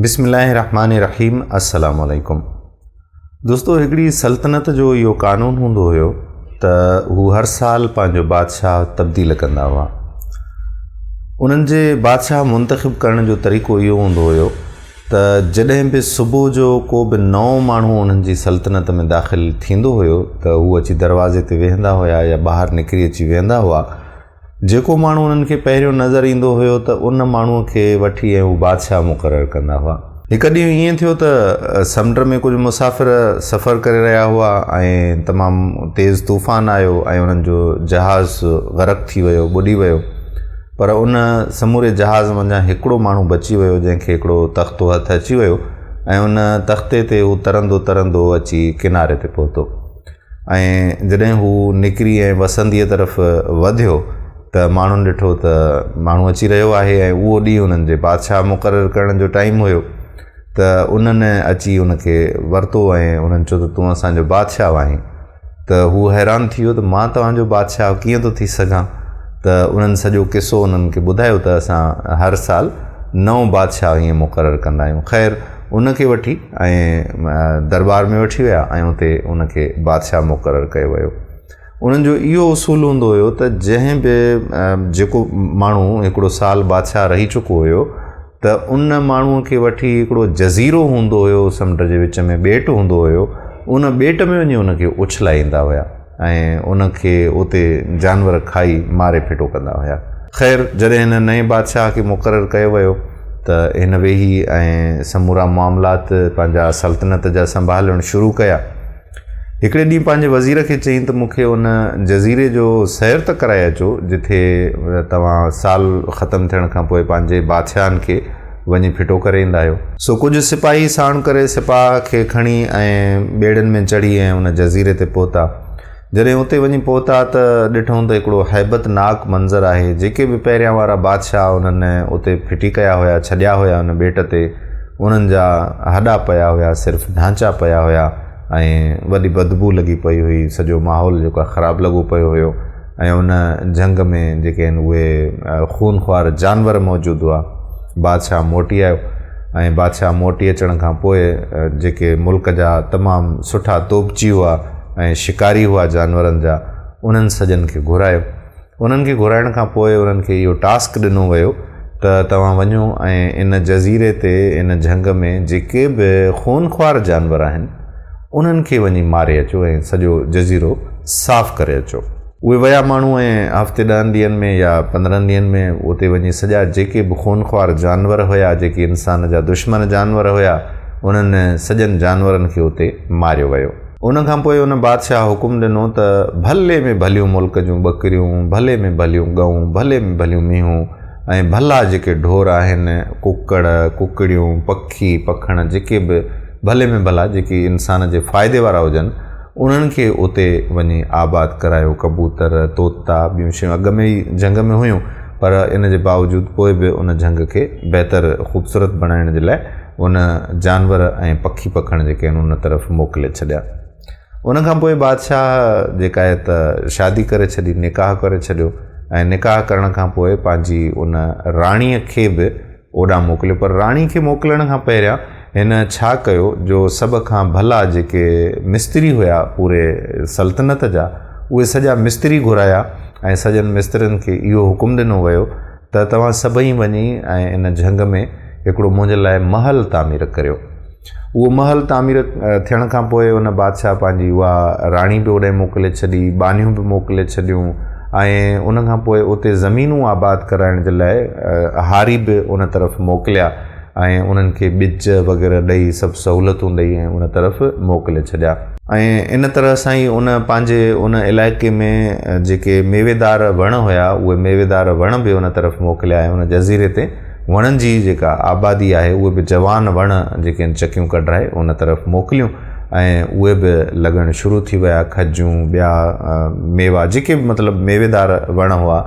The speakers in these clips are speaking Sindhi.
بسم الله الرحمن الرحيم السلام عليڪم دوستو هڪڙي سلطنت جو اهو قانون هوندو هيو ته هو هر سال پنهنجو بادشاهه تبديل ڪندا هئا انهن جي بادشاهه منتخب ڪرڻ جو طريقو اهو هوندو هيو ته جڏهن به صبح جو ڪو به نئون ماڻهو انهن جي سلطنت ۾ داخل ٿيندو هيو ته هو اچي دروازي تي ويهندا هيا يا ٻاهر نڪري اچي ويهندا هئا جيڪو ماڻهو انهن کي پهريون نظر ايندو هيو ته ان ماڻهوء کي وٺي ۽ هو بادشاهه مقرر ڪندا هئا. هڪ ڏينهن ائين ٿيو ته سمنڊ ۾ ڪجهه مسافر سفر ڪري رهيا هئا ۽ تمام تيز طوفان آيو ۽ انهن جو جهاز غرق ٿي ويو، ٻڏي ويو. پر ان سموري جهاز منجهان هڪڙو ماڻهو بچي ويو جنهن کي هڪڙو تختو هٿ اچي ويو ۽ ان تختي تي هو ترندو ترندو اچي ڪناري تي پهتو. ۽ جڏهن هو نڪري ۽ وسنديء طرف وڌيو ته ماڻهن ڏٺو ته ماڻهو اچي رهيو آهي ۽ اهو ڏينهن انهن جي بادشاهه مقرر ڪرڻ جو ٽائيم هيو ته انهن اچي ان کي ورتو ۽ انهن چيو ته تون اسان جو بادشاهه آهين ته هو حيران ٿي ويو ته مان توهان جو بادشاهه ڪيئن ٿو ٿي سگهان ته انهن سڄو قصو انهن کي ٻڌايو ته اسان هر سال نئون بادشاهه ائين مقرر ڪندا آهيون خير ان کي وٺي ۽ درٻار ۾ وٺي ويا ۽ اتي ان کي بادشاهه مقرر ڪيو ويو. انهن جو اهو اصول هوندو هيو ته جنهن به جيڪو ماڻهو هڪڙو سال بادشاهه رهي چڪو هيو ته ان ماڻهوء کي وٺي هڪڙو جزيرو هوندو هيو سمنڊ جي وچ ۾ ٻيٽ هوندو هيو ان ٻيٽ ۾ وڃي ان کي اڇلائيندا هيا. ۽ ان کي اتي جانور کائي ماري ڦٽو ڪندا هيا. خير جڏهن هن نئين بادشاهه کي مقرر ڪيو ويو ته هن ويهي ۽ سمورا معاملات پنهنجا سلطنت جا سنڀالڻ شروع ڪيا. هڪڙي ڏينهن پنهنجي وزير کي چيائين ته مون کي ان جزيري جو سير ته ڪرائي اچو جتي توهان سال ختم ٿيڻ کان پوء پنهنجي بادشاهن کي وڃي ڦٽو ڪري ايندا آهيو. سو ڪجهه سپاهي ساڻ ڪري سپاهه کي کڻي ۽ ٻيڙين ۾ چڙهي ۽ ان جزيري تي پهتا. جڏهن اتي وڃي پهتا ته ڏٺون ته هڪڙو هيبت ناڪ منظر آهي. جيڪي به پهريان وارا بادشاهه انهن اتي ڦٽي ڪيا هيا ڇڏيا هيا ان ٻيٽ تي انهن جا هڏا پيا هيا صرف ڍانچا پيا هيا ۽ وڏي بدبو لڳي پئي هئي سڄو ماحول جيڪو آهي خراب لڳو پيو هيو. ۽ ان جنگ ۾ جيڪي هن اهي خون خوار جانور موجود هئا بادشاهه موٽي آيو ۽ بادشاهه موٽي اچڻ کان پوء جيڪي ملڪ جا تمام سٺا توبچي هئا ۽ شڪاري هئا جانورن جا انهن سڄن کي گهرايو انهن کي گهرائڻ کان پوء انهن کي اهو ٽاسڪ ڏنو ويو ته توهان وڃو ۽ ان جزيري تي ان جنگ ۾ جيڪي به خون خوار جانور آهن انهن کي وڃي ماري اچو ۽ سڄو جزيرو صاف ڪري اچو. اهي ويا ماڻهو ۽ هفتي ڏهن ڏينهن ۾ يا پندرهن ڏينهن ۾ اتي وڃي سڄا جيڪي به خونخوار جانور هيا، جيڪي انسان جا دشمن جانور هيا، انهن سڄن جانورن کي اتي ماريو ويو. ان کان پوء ان بادشاهه حڪم ڏنو ته ڀلي ۾ ڀليون ملڪ جون ٻڪريون، ڀلي ۾ ڀليون ڳئون، ڀلي ۾ ڀليون مينهون ۽ ڀلا جيڪي ڍور آهن، ڪڪڙ، ڪڪڙيون، پکي، پکڻ جيڪي به، ڀلي ۾ ڀلا جيڪي انسان جي فائدي وارا هجن انهن کي اتي وڃي آباد ڪرايو ڪبوتر طوطا ٻيون شيون اڳ ۾ ئي جهنگ ۾ هيون پر ان جي باوجود پوء به ان جهنگ کي بهتر خوبصورت بڻائڻ جي لاء ان جانور ۽ پکي پکڻ جيڪي آهن ان طرف موڪلي ڇڏيا ان کان پوء بادشاهه جيڪا آهي ته شادي ڪري ڇڏي نڪاح ڪري ڇڏيو ۽ نڪاح ڪرڻ کان پوء پنهنجي ان راڻيء کي به اوڏانهن موڪليو پر راڻي کي موڪلڻ کان پهريان هن ڇا ڪيو جو سڀ کان ڀلا جيڪي مستري هيا پوري سلطنت جا اهي سڄا مستري گهرايا ۽ سڄن مسترين کي اهو حڪم ڏنو ويو ته توهان سڀئي وڃي ۽ ان جهنگ ۾ هڪڙو منهنجي لاء محل تعمير ڪريو اهو محل تعمير ٿيڻ کان پوء ان بادشاهه پنهنجي اها راڻي به اوڏانهن موڪلي ڇڏي، ٻانهيون به موڪلي ڇڏيون ۽ ان کان پوء اتي زمينون آباد ڪرائڻ جي لاء هاري به ان طرف موڪليا ۽ انهن کي ٻج وغيره ڏئي سڀ سهولتون ڏئي ۽ ان طرف موڪلي ڇڏيا. ۽ ان طرح سان ئي ان پنهنجي ان علائقي ۾ جيڪي ميويدار وڻ هيا اهي ميويدار وڻ به ان طرف موڪليا ۽ ان جزيري تي وڻن جي جيڪا آبادي آهي اهي به جوان وڻ جيڪي آهن چڪيون ڪڍرائي ان طرف موڪليون ۽ اهي به لڳڻ شروع ٿي ويا کجون ٻيا ميوا جيڪي به مطلب ميويدار وڻ هئا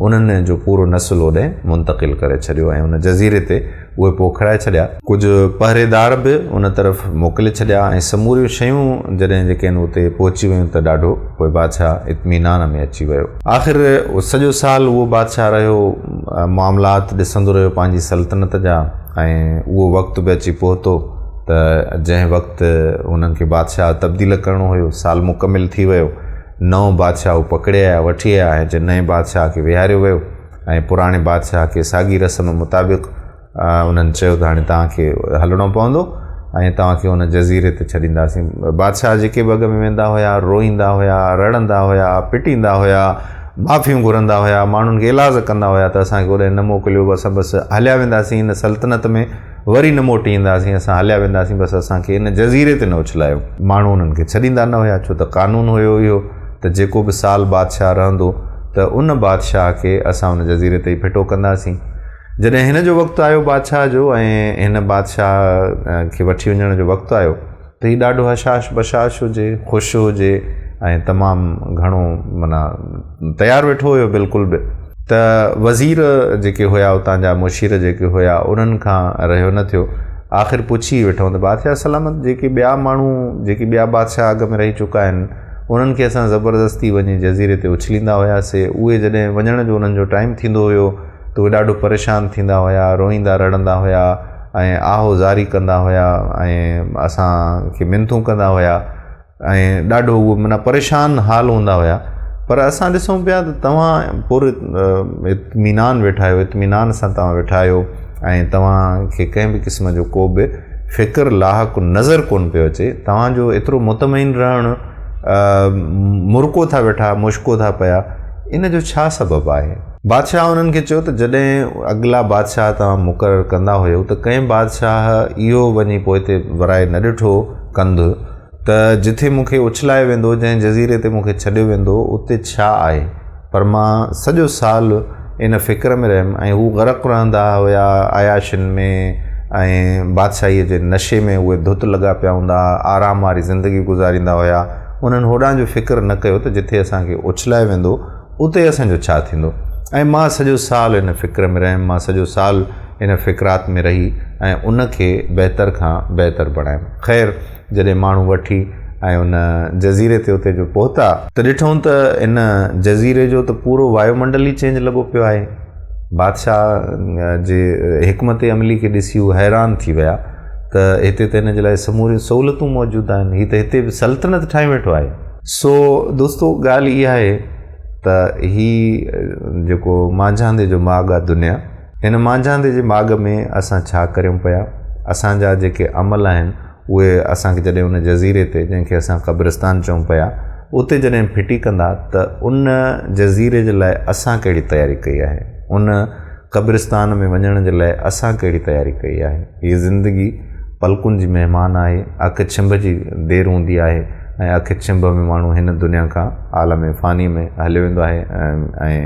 انهن جو پورو نسل اوڏي منتقل ڪري ڇڏيو ۽ ان جزيري تي اهي پوکرائي ڇڏيا. ڪجهه پهريدار به ان طرف موڪلي ڇڏيا ۽ سموريون شيون جڏهن جيڪي آهن اتي پهچي ويون ته ڏاڍو پوء بادشاهه اطمينان ۾ اچي ويو. آخر سڄو سال اهو بادشاهه رهيو، معاملات ڏسندو رهيو پنهنجي سلطنت جا ۽ اهو وقت به اچي پهتو ته جنهن وقت هنن کي بادشاهه تبديل ڪرڻو هيو، سال مڪمل ٿي ويو، نئون بادشاهه هو پڪڙي آيا، وٺي آيا ۽ نئين بادشاهه کي ويهاريو ويو ۽ پراڻي بادشاهه کي ساڳي رسم مطابق انهن چيو ته هاڻي توهان کي هلڻو پوندو ۽ توهان کي ان جزيري تي ڇڏينداسين. بادشاهه جيڪي به اڳ ۾ ويندا هيا، روئيندا هيا، رڙندا هيا، پٽيندا هيا، معافيون گهرندا هيا، ماڻهن کي ايلاز ڪندا هيا ته اسان کي اوڏانهن نه موڪليو، اسان بس هليا وينداسين ان سلطنت ۾ وري نه موٽي اينداسين، اسان هليا وينداسين بس اسان کي ان جزيري تي نه اڇلايو. ماڻهو انهن کي ڇڏيندا نه هيا ڇو ته قانون هيو اهو ته جيڪو به سال بادشاهه رهندو ته ان بادشاهه کي اسان ان جزيري تي ئي ڦٽو ڪنداسين. جڏهن هن جو وقت آيو بادشاهه جو ۽ هن بادشاهه کي وٺي وڃڻ جو وقت آيو ته هي ڏاڍو هشاش بشاش هجي، خوش هجي ۽ تمام گهڻو معنيٰ تيار ويٺو هيو بلڪل به ته وزير جيڪي هيا اتان جا مشير جيڪي هيا انهن کان رهيو نه ٿيو آخر پڇي ئي ويٺائون ته بادشاهه سلامت جيڪي ٻيا ماڻهو جيڪي ٻيا بادشاهه اڳ ۾ رهي چڪا آهن انهن کي اسان زبردستي وڃي جزيري تي اڇليندا هياسي اهي جڏهن وڃڻ جو انهن جو ٽائيم ٿيندو هيو ته اهي ڏاڍو پريشان ٿيندا هيا، روئيندا رڙندا هيا ۽ آهو زاري ڪندا هيا ۽ اسان کي منٿون ڪندا هيا ۽ ڏاڍو اهي معنيٰ پريشان حال هوندا هيا پر اسان ڏسون پيا ته توهان پر اطمينان ويٺا آهيو اطمينان سان توهان ويٺا آهيو ۽ توهان کي ڪنهن به قسم جو ڪو به فڪر لاحق نظر ڪونه پيو اچي توهان جو ايترو مطمئن رهڻ مرڪو ٿا ويٺا مشڪو ٿا پيا ان جو ڇا سبب آهي بادشاهه انهن کي چيو ته جڏهن اڳلا بادشاهه توهان مقرر ڪندا هيو ته ڪنهن بادشاهه اهو وڃي پوئتي ورائي نه ڏٺو ڪنڌ ته جٿي مون کي اڇلايو ويندو، جنهن جزيري تي مون کي ڇڏيو ويندو، اتي ڇا آهي؟ پر مان سڄو سال ان فڪر ۾ رهيم ۽ هو غرق رهندا هيا عياشين ۾ ۽ بادشاهيء جي نشي ۾ اهي ڌت لڳا پيا هوندا ها، آرام واري زندگي گذاريندا هيا، انهن هوڏانهن جو فڪر نه ڪيو ته جٿي اسان کي اڇلايو ويندو، اتي اسان جو ڇا ٿيندو؟ ۽ مان سڄو سال ان فڪر ۾ رهيم، مان سڄو سال ان فڪرات ۾ رهي ۽ ان کي بهتر کان بهتر بڻايم. خير، جڏهن ماڻهو وٺي ۽ ان جزيري تي اتي جو پهتا، ته ڏٺئون ته ان جزيري جو ته پورو وايو منڊل ئي چينج لڳو پيو آهي بادشاهه جي حڪمت عملي کي ڏسي هو حيران ٿي ويا ته هتي ته ان جي لاء سموريون سهولتون موجود آهن، هي ته هتي به سلطنت ٺاهي ويٺو آهي. سو دوستو ڳالهه اها آهي ته هي جيڪو مانجهاندي جو ماڳ آهي دنيا هن مانجهاندي جي ماڳ ۾ اسان ڇا ڪريون پيا اسان جا جيڪي عمل آهن اهي اسان کي جڏهن ان جزيري تي جنهن کي اسان قبرستان چئون پيا اتي جڏهن ڦٽي ڪندا ته ان جزيري جي لاء اسان ڪهڙي تياري ڪئي آهي ان قبرستان ۾ وڃڻ جي لاء اسان ڪهڙي تياري ڪئي آهي؟ هيء زندگي پلڪن جي مهمان آهي، اک ڇنڀ جي دير هوندي آهي ۽ اک ڇنڀ ۾ ماڻهو هن دنيا کان عالم فانيء ۾ هليو ويندو آهي ۽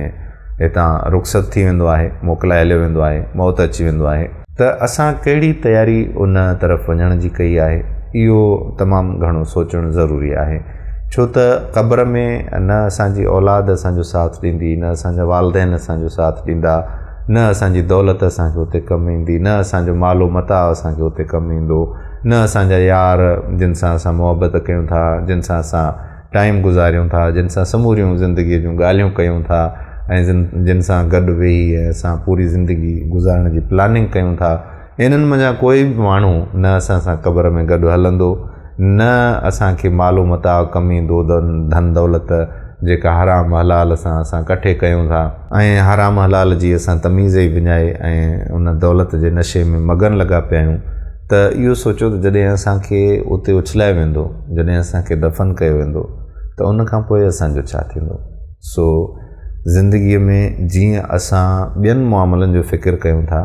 هتان رخصت ٿي ويندو آهي، موڪلائي هليو ويندو آهي، موت اچي ويندو آهي. ته اسان ڪهڙي تياري ان طرف وڃڻ جي ڪئي آهي؟ اهو تمام گهڻو سوچڻ ضروري آهي. ڇو ته قبر ۾ نه اسان جي اولاد اسان جو ساٿ ڏيندي، نه اسان جا والدين اسان جو ساٿ ڏيندا، نه اسان جي دولت اسان کي اتي ڪم ايندي، نه اسان جو مال و متاع اسان کي اتي ڪم ايندو، نه اسان جا يار جن سان اسان محبت ڪيون ٿا، جن سان اسان ٽائيم گذاريون ٿا، جن سان سموريون زندگيء جون ڳالهيون ڪيون ٿا ۽ جن سان گڏ ويهي اسان پوري زندگي گذارڻ جي پلاننگ ڪيون ٿا. انهن منجهان ڪوئي به ماڻهو نه اسان سان قبر ۾ گڏ هلندو، نه اسان کي مال و متاع، ڪمي دود، ڌن دولت، جيڪا حرام حلال سان اسان ڪٺي ڪيون ٿا، ۽ حرام حلال جي اسان تميز ئي وڃائي ۽ ان دولت جي نشي ۾ مگن لڳا پيا آهيون، ته اهو سوچيو ته جڏهن اسان کي اتي اڇلايو ويندو، جڏهن اسان کي دفن ڪيو ويندو ته ان کان پوء اسان جو ڇا ٿيندو؟ سو زندگيء ۾ جيئن اسان ٻين معاملن جو فڪر ڪيون ٿا،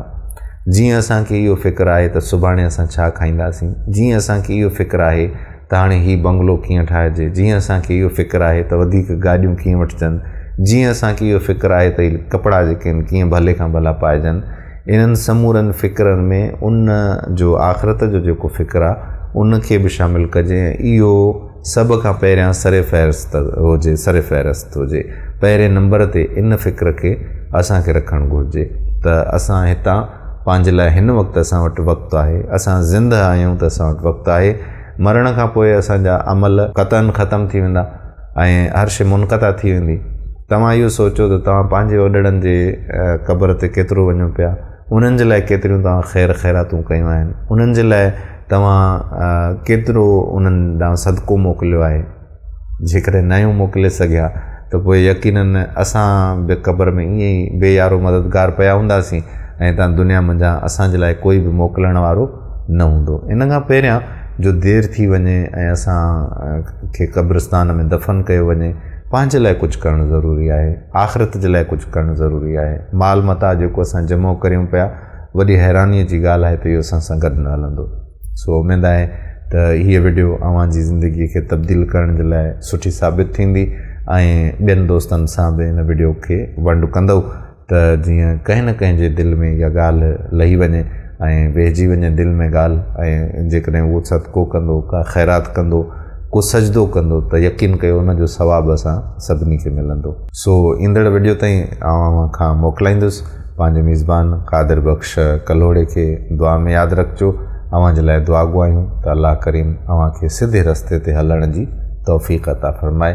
جيئن اسان کي اهو فڪر آهي ته سڀاڻي اسان ڇا کائينداسين، جيئن اسان کي اهو فڪر آهي ته هاڻي هي بنگلو ڪيئن ٺاهجي، جيئن اسان کي اهو فڪر آهي ته وڌيڪ گاڏيون ڪيئن وٺجن، جيئن اسان کي اهو فڪر آهي ته هي ڪپڙا جيڪي آهن ڪيئن ڀلي کان ڀلا پائجن، انهن سمورن فڪرن ۾ ان جو آخرت جو جيڪو فڪر آ ان کي به شامل ڪجي ۽ اهو سڀ کان پهريان سر فهرست هجي سر فهرست هجي پهرين نمبر تي ان فڪر کي اسان کي رکڻ گهرجي ته اسان هتان پنهنجي لاء هن وقت اسان وٽ وقت آهي اسان زندهه آهيون ته اسان وٽ وقت آهي مرڻ کان پوء اسان جا عمل قطعن ختم ٿي ويندا ۽ هر شيء منقطع ٿي ويندي. توهان اهو سوچيو ته توهان پنهنجي وڏڙن جي قبر تي ڪيترو وڃو پيا، انهن جي لاء ڪيتريون توهان خير خيراتون ڪيون آهن، انهن جي لاء توهان ڪيترو انهن ڏانهن صدقو موڪليو آهي. جيڪڏهن ناهيون موڪلي سگهيا ته پوء يقيناً اسان به قبر ۾ ائين ئي بي يارو مددگار پيا هونداسين ۽ هتان دنيا منجهان اسان جي لاء ڪوئي به موڪلڻ وارو نه هوندو. ان کان پهريان جو دير ٿي وڃي ۽ اسان کي قبرستان ۾ دفن ڪيو وڃي، پنهنجي لاء ڪجهه ڪرڻ ضروري آهي، آخرت جي لاء ڪجهه ڪرڻ ضروري آهي. مال متاع جيڪو اسان جمع ڪريون پيا، وڏي حيرانيء جي ڳالهه آهي ته اهو اسان سان گڏ نه هلندو. سو اميد آهي ته هيء وڊيو اوهان جي زندگيء کي تبديل ڪرڻ جي لاء سٺي ثابت ٿيندي ۽ ٻين دوستن سان به هن وڊيو کي ونڊ ڪندؤ. ته جيئن ڪنهن نه ڪنهن جي دل ۾ اها ڳالهه لهي وڃي ۽ ويهجي وڃي دل ۾ ڳالهه ۽ جيڪڏهن اهو صدقو ڪندو، ڪا خيرات ڪندو، ڪو سجدو ڪندو ته يقين ڪيو ان جو ثواب اسان سڀني کي ملندو. سو ايندڙ وڊيو تائين آئون اوهان کان موڪلائيندس پنهنجي ميزبان قادر بخش ڪلهوڙي کي دعا ۾ ياد رکجو اوهان جي لاء دعا گهو آهيون ته الله ڪريم اوهان کي سڌي رستي تي هلڻ جي توفيق عطا فرمائي.